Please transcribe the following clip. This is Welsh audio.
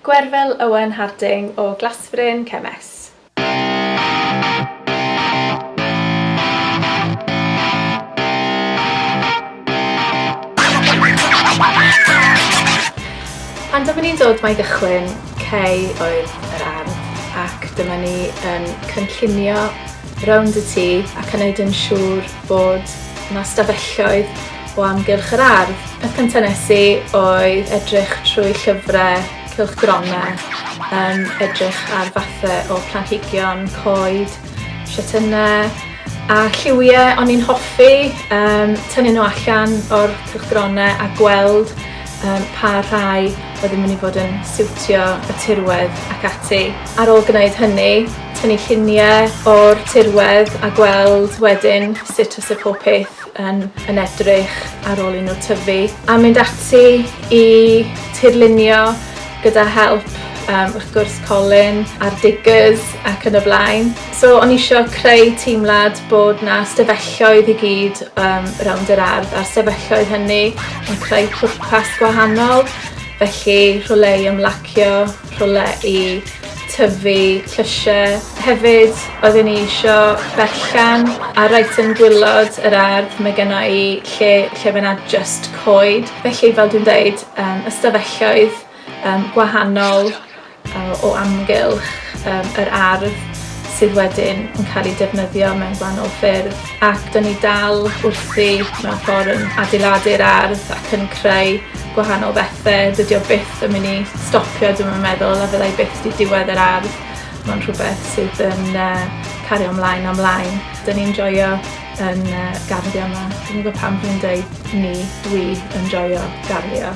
Gwerfyl Owen Harding o Glasfryn, Cefn-es. Pan dyma ni'n dod mai gychwyn cei oedd yr ardd ac dyma ni yn cynllunio rownd y tŷ ac yn neud yn siŵr bod 'na stafelloedd o amgylch yr ardd. Y cyntaf nes i oedd edrych trwy llyfrau cylchgronau, um, edrych ar fathau o planhigion, coed, siatynnau a lliwiau o'n i'n hoffi um, tynnu nhw allan o'r cylchgronau a gweld um, pa rhai oedd yn mynd i fod yn siwtio y tirwedd ac ati. Ar ôl gwneud hynny, tynnu lluniau o'r tirwedd a gweld wedyn sut os y pob peth yn, yn edrych ar ôl i nhw tyfu a mynd ati i tirlunio gyda help um, wrth gwrs Colin a'r diggers ac yn y blaen. So o'n i eisiau creu teimlad bod na stefelloedd i gyd um, rownd yr ardd a'r stefelloedd hynny yn creu pwrpas gwahanol felly rhywle i ymlacio rhywle i tyfu llysiau. Hefyd oedden ni isio berllan a reit yn gwylod yr ardd mae genna i lle lle mae 'na jyst coed felly fel dwi'n deud yym ystafelloedd yym gwahanol yy o amgylch yym yr ardd sydd wedyn yn cael eu defnyddio mewn gwahanol ffyrdd. ac dan ni dal wrthi mewn ffordd yn adeiladu'r ardd ac yn creu gwahanol bethau. Dydy o byth yn mynd i stopio, dwi'n yn meddwl, a fyddai byth di diwedd yr ardd. Mae'n rhywbeth sydd yn uh, cario ymlaen a ymlaen. Dyna ni'n joio yn uh, garddio yma. Dwi'n gwybod pam dwi'n dweud ni, dwi yn joio garddio.